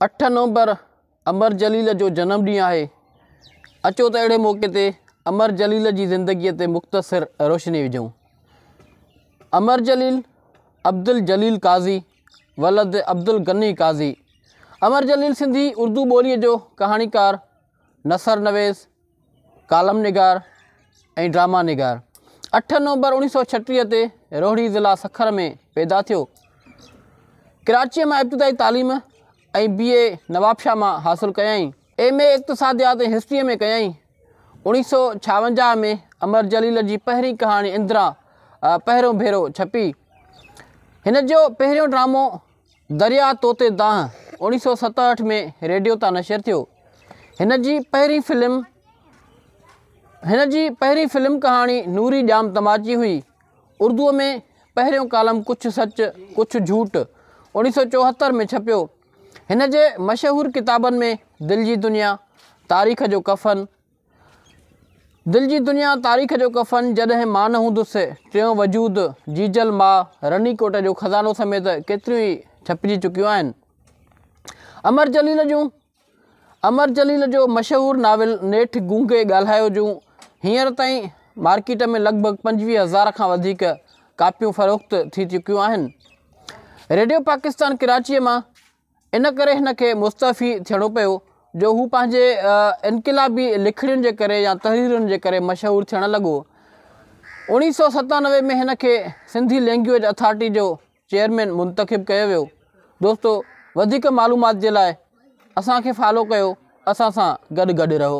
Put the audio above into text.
اٺ نومبر امر جليل جو جنم ڏينهن آهي، اچو ته اهڙي موقعي تي امر جليل جي زندگيء تي مختصر روشني وجهون. امر جليل عبدالجليل قاضي ولد عبدالغني قاضي امر جليل سنڌي اردو ٻوليء جو ڪهاڻيڪار، نثر نويس، ڪالم نگار ۽ ڊراما نگار. اٺ نومبر اوڻيھ سؤ ڇٽيھ تي روھڙي ضلع سکر ۾ پيدا ٿيو. ڪراچيء مان ابتدائي تعليم ۽ بي اي نوابشاھ مان حاصل ڪيائين. ايم اي اقتصاديات ۽ ھسٽريء ۾ ڪيائين. اوڻيھ سؤ ڇاونجاھ ۾ امر جليل جي پهرين ڪهاڻي اندرا پهريون ڀيرو ڇپي. هن جو پهريون ڊرامو درياء توتي دانهن اوڻيهه سؤ ستهٺ ۾ ريڊيو تان نشر ٿيو. هن جي پهرين فلم هن جي پهرين فلم ڪهاڻي نوري ڄام تماچي هئي. اردوء ۾ پهريون ڪالم ڪڇ سچ ڪڇ جھوٽ اوڻيهه سؤ چوهتر ۾ ڇپيو. هن جي مشهور ڪتابن ۾ دل جي دنيا، تاريخ جو ڪفن، دل جي دنيا تاريخ جو ڪفن جڏهن مان نه هوندس ٽيون وجود جيجل ماء رني ڪوٽ جو خزانو سميت ڪيتريون ئي ڇپجي چڪيون آهن امر جليل جون امر جليل جو مشهور ناول نيٺ گونگي ڳالهايو جون هينئر تائين مارڪيٽ ۾ لڳ ڀڳ پنجويهه هزار کان وڌيڪ ڪاپيون فروخت ٿي چڪيون آهن ريڊيو پاڪستان ڪراچيء مان ان ڪري هن کي مستعفي ٿيڻو پيو جو هو پنهنجي انقلابي لکڻين جي ڪري يا تحريرن جي ڪري مشهور ٿيڻ لڳو. اوڻيهه سؤ ستانوي ۾ هن کي سنڌي لينگويج اٿارٽي جو چيئرمين منتخب ڪيو ويو. دوستو وڌيڪ معلومات جي لاء اسان کي فالو ڪيو اسان سان گڏ گڏ رهو.